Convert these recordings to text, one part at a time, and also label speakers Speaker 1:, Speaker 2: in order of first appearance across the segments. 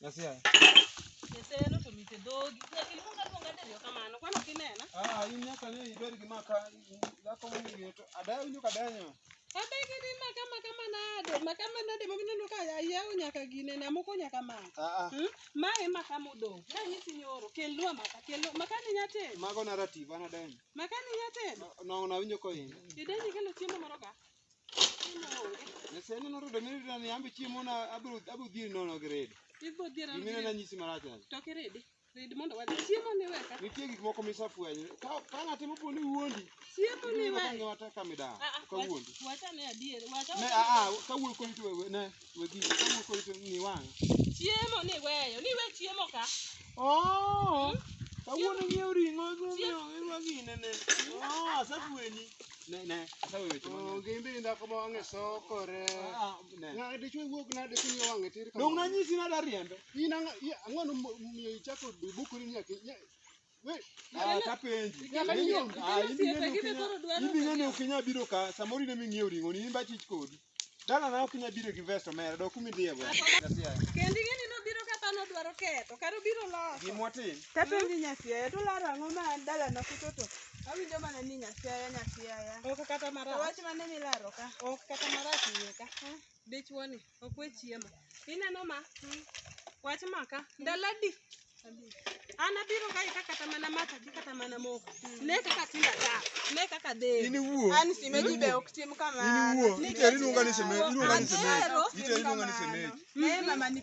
Speaker 1: Nyasia.
Speaker 2: Nyatheno to mite dhogi. Nyaka iluong aluonga diriyo kamano. Kwano kinena. Ah, in nyaka ne
Speaker 1: ibed gi maka dhako mong'eyo to adaya winjo ka danyo. Abegi ni
Speaker 2: maka maka manade. Maka manade ma mineno ka ayaw nyaka gine na moko nyaka maka. Ah ah. Hmm? Ma e maka modong'. Na nyisi nyoro kelwa maka kelwa maka ni nyateno. Mago na rativa na
Speaker 1: danyo. Maka ni nyateno.
Speaker 2: Nong'o na winjo ko
Speaker 1: in. Idenye kelo chiemo
Speaker 2: moro ka. Sani
Speaker 1: no redo nini na yambe chiemo na abro abro dhiri nono gi redo. Ibro dhiri. Gimina
Speaker 2: na nyisi marach aja.
Speaker 1: To ki redi.
Speaker 2: Redi mondo wadhi. Chiemo ni weka. Nitie gik moko misafwenyo.
Speaker 1: Ka ka ng'ate mopo ni wuondi. Chiemo ni weka.
Speaker 2: Ng'ata ka midawo.
Speaker 1: Ka wuondi. Wacha
Speaker 2: ne adier. Wacha. Ne a a ka wuondi
Speaker 1: koni to ne. Wegi, kama uko hivi ni wang. Chiemo ni
Speaker 2: weyo, ni we chiemo ka. Oh.
Speaker 1: Kawuono nyiew ring'o gomeo iwa ginene. Oh, asafueni. Ne, ne, sasa wewe chuma. Oh, gimbe inda kama wange sokore. Ah, ne. Nga dichwe wuok na de kinyo wange tir kama. Dong nanyisi na da riembe. Ina nga ang'ono miyo ichako bukuri nyaki. Ah, tapenji. Nyaka Mimi- nyiew. ah, Mimi in osiepe, bende gine ok koro inya- dwaro in bende ne ok inya biro ka samoro in ema ing'iewo ring'o ni in ba chich kodi. Dala na ok inya biro gi vest omera dok kuma idhiye go. Kendi gini
Speaker 2: nobiro ka pano dwaro ketho, kata obiro loso. Gima watim. Tapenji
Speaker 1: nyasiaya,
Speaker 2: to laro ang'o ma an dalana kucho to awinjo mana ni nyasiaya nyasiaya. Ok kata To marach. wach mane milaro ka? Ok kata marach iye ka. Dichuo ni okwe chiemo. Ineno ma? Wach maka. Ndalo adi? An abiro kae ka kata mana mata gi kata mana moko. Ne kaka tinda ta. Ne kaka de. Iniwuo. An simeji
Speaker 1: be ok
Speaker 2: tim kamano. Iniwuo. Ite iluonga
Speaker 1: ni semeji. Iluonga ni semeji. Ite iluonga ni semeji. Naye mama ni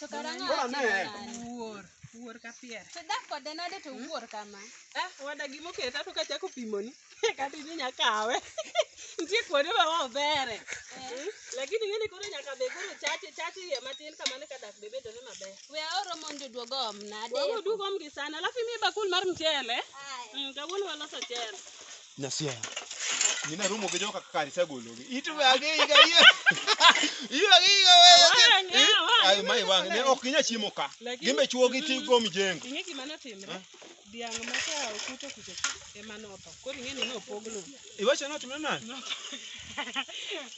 Speaker 1: To kara ng'a Bora ne.
Speaker 3: timo nade?
Speaker 1: Wuor, wuor
Speaker 2: ka pier. To dak kode nade to
Speaker 3: wuor kama? Ah, wada gima
Speaker 2: oketa to kachako pimoni. Kata idhi nya kawe. Nitie kuonde ma ok bere. Mm. Lakini ng'eni koro nyaka be koro chache chache iye matin kamano ka dak be bedore maber. We aoro mondo
Speaker 3: oduog om nade? Wago dugo omgi sana.
Speaker 2: Alafu imiye bakul mar mchele. Aya. Mm, kawuono waloso mchele. Nyasiaya.
Speaker 1: Gina rumo gi joka kari sagologi. Itu agi iga iye. Iye agi iga wewe. Ayo mai wang ne ok inya chiemo ka. Gimbe chuo gi ti go mijengo. Ing'e gima notimre?
Speaker 2: Dhiang' ma ka okuto kucho ema notho. Koro ing'e ni nopog lo. Iwacho no timre
Speaker 1: nani?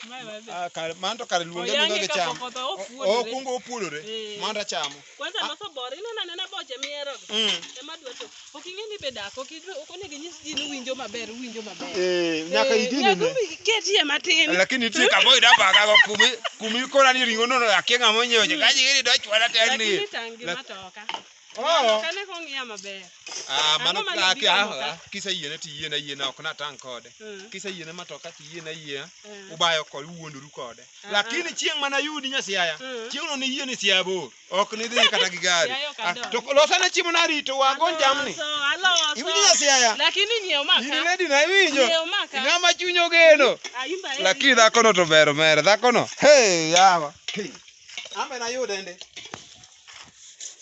Speaker 1: Mae wadhi. Ah kar manto kar luonge luonge Oyange gi ka cham. pok otho,
Speaker 2: opuodore.
Speaker 1: Okungo opuodore. Eh. Manto chamo. Kwanza loso bor,
Speaker 2: ineno anena boche mihero go. Mm. Ema dwa to. Ok ing'e ni be dak, ok idwa, ok onego inyis ji ni winjo maber, winjo maber. Eh, nyaka
Speaker 1: Eh, idine nyaka ne. iketie matin.
Speaker 2: lakini nitie kama oyudo
Speaker 1: abagago kumi kumi ikona ni ring'o nono akia ng'ama onyiewo cha kaji gini dochwala tek Lakini ni tang' gi
Speaker 2: matoka. Oh. Matoka ne kong'iya maber. Ah, mano Ang'o mane
Speaker 1: kake biro ah, moka? ah, kiseyiene to iyiena yiena ok natang' kode Mm. kiseyiene matoka to iyiena yiena Eh. ubayo kode uwuondoru kode lakini chieng' mana yudi nyasiaya Mm. chieng' no niyie ni siaya bor ok nidhi kata gi gari Siaya ok Ah, adonj. to losana chiemo narito wago jamni Aloso, aloso. iwinjo nyasiaya Lakini nyiew in maka.
Speaker 2: lady na iwinjo Nyiew
Speaker 1: maka. ing'ama chuny
Speaker 2: ogeno
Speaker 1: Ah, in by lakini dhakono to ber omera dhakono hey yawa Hey, ambe nayude ndi